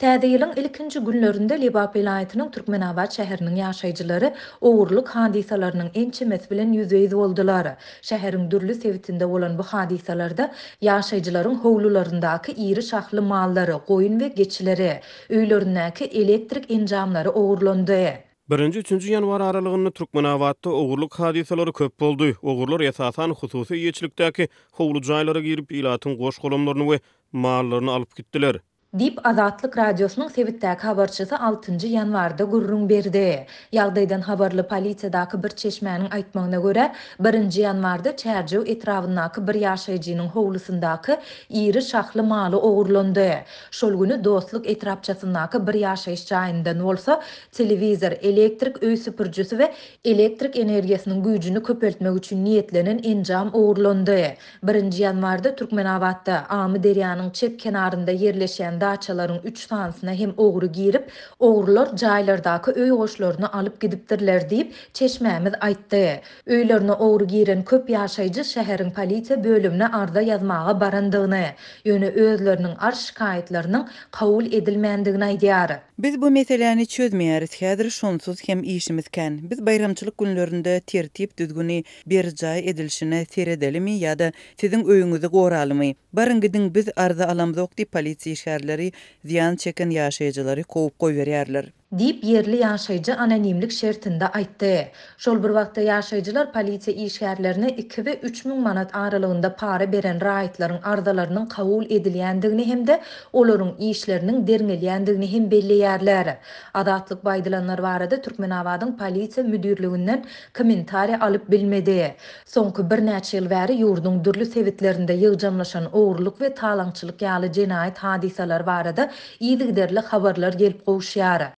Täze ýylyň ilkinji günlerinde Lebap welaýatynyň Türkmenabat şäheriniň ýaşaýjylary ogurlyk hadysalarynyň ençemesi bilen ýüzbe-ýüz boldular. Şäheriň dürli sebitinde bolan bu hadysalarda ýaşaýjylaryň howlularyndaky iri şahly mallary, goýun we geçileri, öýlerindäki elektrik enjamlary ogurlandy. Birinji-üçünji ýanwar aralygynda Türkmenabatda ogurlyk hadysalary köp boldy. Ogurlar esasan hususy eýeçilikdäki howly jaýlara girip, ilatyň goş-golamlaryny we Mallaryny alyp gitdiler. Diýip, Azatlyk Radiosynyň sebitdäki habarçysy altynjy ýanwarda gürrüň berdi. Ýagdaýdan habarly polisiýadaky bir çeşmäniň aýtmagyna görä, birinji ýanwarda Çärjew etrabyndaky bir ýaşaýjynyň howlusyndaky iri şahly maly ogurlandy. Şol güni Dostluk etrapçasyndaky bir ýaşaýyş jaýyndan bolsa telewizor, elektrik öý süpürjisi we elektrik energiýasynyň güýjüni köpeltmek üçin niýetlenen enjam ogurlandy. Birinji ýanwarda Türkmenabatda, Amyderýanyň çep kenarynda ýerleşýän daçalaryň üç sanysyna hem ogry girip, ogrular jaýlardaky öý goşlaryny alyp gidipdirler diýip, çeşmämiz aýtdy. Öýlerine ogry giren köp ýaşaýjy şäheriň polisiýa bölümine arza ýazmaga barandygyny, ýöne özleriniň arz-şikaýatlarynyň kabul edilmändigini aýdýar. Biz bu meseläni çözmeýäris, häzir şonsuz hem işimiz kän. Biz baýramçylyk günlerinde tertip-düzgüni berjaý edilişine seredelimi ýa-da siziň öýüňizi goralymy? Baryň gidiň, biz arza alamzok diýip, polisiýa işgärleri zyýan çeken ýaşaýjylary kowup goýberýärler. Diýip, ýerli ýaşaýjy anonimlik şertinde aýtdy. Şol bir wagtda, ýaşaýjylar polisiýa işgärlerine iki we üç müň manat aralygynda para beren raýatlaryň arzalarynyň kabul edilýändigini hem-de olaryň işleriniň derňelýändigini hem belleýärler. Azatlyk bu aýdylanlar barada Türkmenabadyň polisiýa müdirliginden Kommentariýa alyp bilmedi. Soňky birnäçe ýyl bäri ýurduň dürli sebitlerinde ýygjamlaşan ogrulyk we talaňçylyk ýaly jenaýat hadysalary barada yzygiderli habarlar gelip gowuşýar.